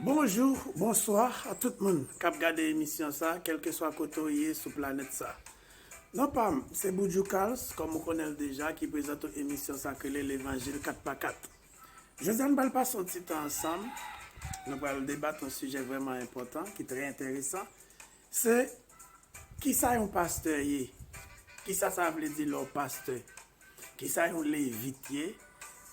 Bonjou, bonswa a tout moun kap gade emisyon sa kelkeswa kote ou ye sou planèt sa. Non pam se Boudjou Carls kòm ou konnenl deja ki prezante w emisyon sa k rele levanjil 4 pa 4. Jodia nou pral pase yon ti tan ansanm, nou pral debat yon sijè vrèman enpòtan ki trè enteresan Se Kisa yon pastè ye? Kisa sa vle di lè w pastè? Kisa yon levit ye?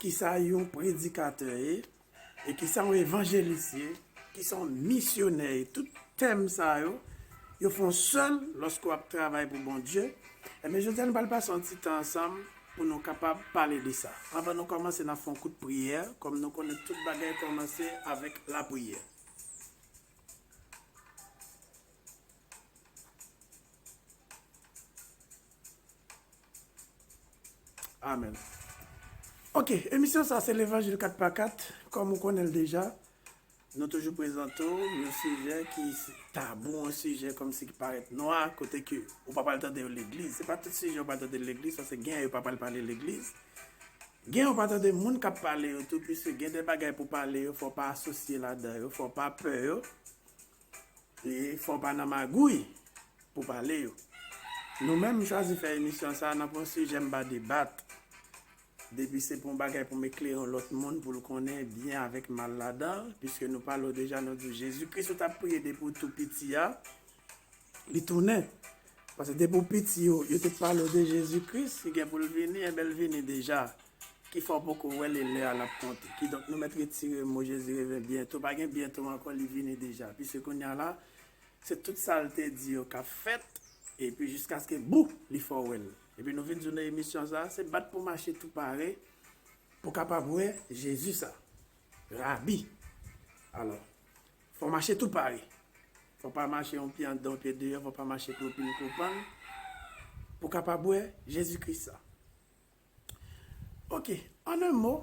Kisa yon predikatè ye? E kisa yon evanjelis ye? Kisa yon misyonè ye? Tout tèm sa yo, yo fon sèl lòske w ap travay pou Bondye. Enben, jodi a nou pral pase yon ti tan ansanm pou nou kapab pale de sa. Anvan nou kòmanse, n ap fè yon kout priyè, kòm nou konnen tout bagay kòmanse avèk lapriyè. Amen Ok emisyon sa se levanjil 4 pa 4 kom ou konnen l deja nou toujou prezante w yon sijè ki tabou yon sijè kom si ki parèt nwa kote ke ou pa pral tande yo legliz se pa tout sijè ou pral tande l legliz paske gen yo pa pral pale legliz Gen yon patat de moun kap pale yo tou puiske gen de bagay pou pale yo fò pa asosye ladan yo fò pa pè yo e fò pa nan magouy pou pale yo nou menm m chwazi fè emisyon sa nan pou yon sijè m pa debat depi se pou yon bagay pou m eklere yon lòt moun pou l konnen byen avèk mal ladan l puiske nou pale w deja nou di w jezikris ou tap priye depi w tou piti a. Li tounen. Pase depi ou piti yo, yo te pale ou de Jezi Kris ki gen pou l vini, enben l vini deja. Ki fè w poko wè l e lè a l ap konte. Kidonk nou mèt retire mo Jezi reven byento. Pa gen byento ankò, li vini deja. Piske kounye a la, se tout sa l te di yo k ap fèt, epi jiskaske bou! li fè w wè l. Epi nou vin di w nan emisyon sa a, se bat pou w mache tou pare pou w kapab wè Jezi sa a. Rabi! Alò, Fò mache tou pare. Fò pa mache yon pye anndan yon pye deyò, fò pa mache klopin klopan pou ka pa bwè Jezi Kris sa. Ok, an en mo,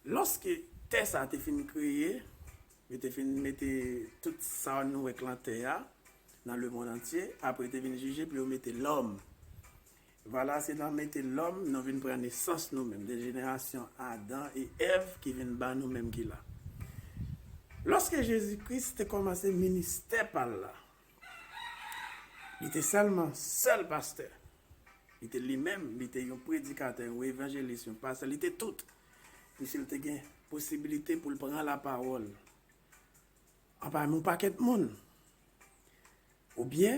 lòske tè sa te fin kreye, yo te fin mete tout sa nou wè k lan tè a, nan lemond antye, apre yo te vin jije pou yo mete lòm. Vwala se nan mete lòm nou vin pran nesans nou menm de jenerasyon Adan e Èv ki vin ba nou menm ki la. Lòske Jezi Kris te kòmanse ministè pa l la, li te sèlman sèl pastè, li te li menm, li te yon predikatè, yon evanjelis, yon pastè, li te tout, piske l te gen posibilite pou l pran lapawòl anpami yon pakèt moun, oubyen.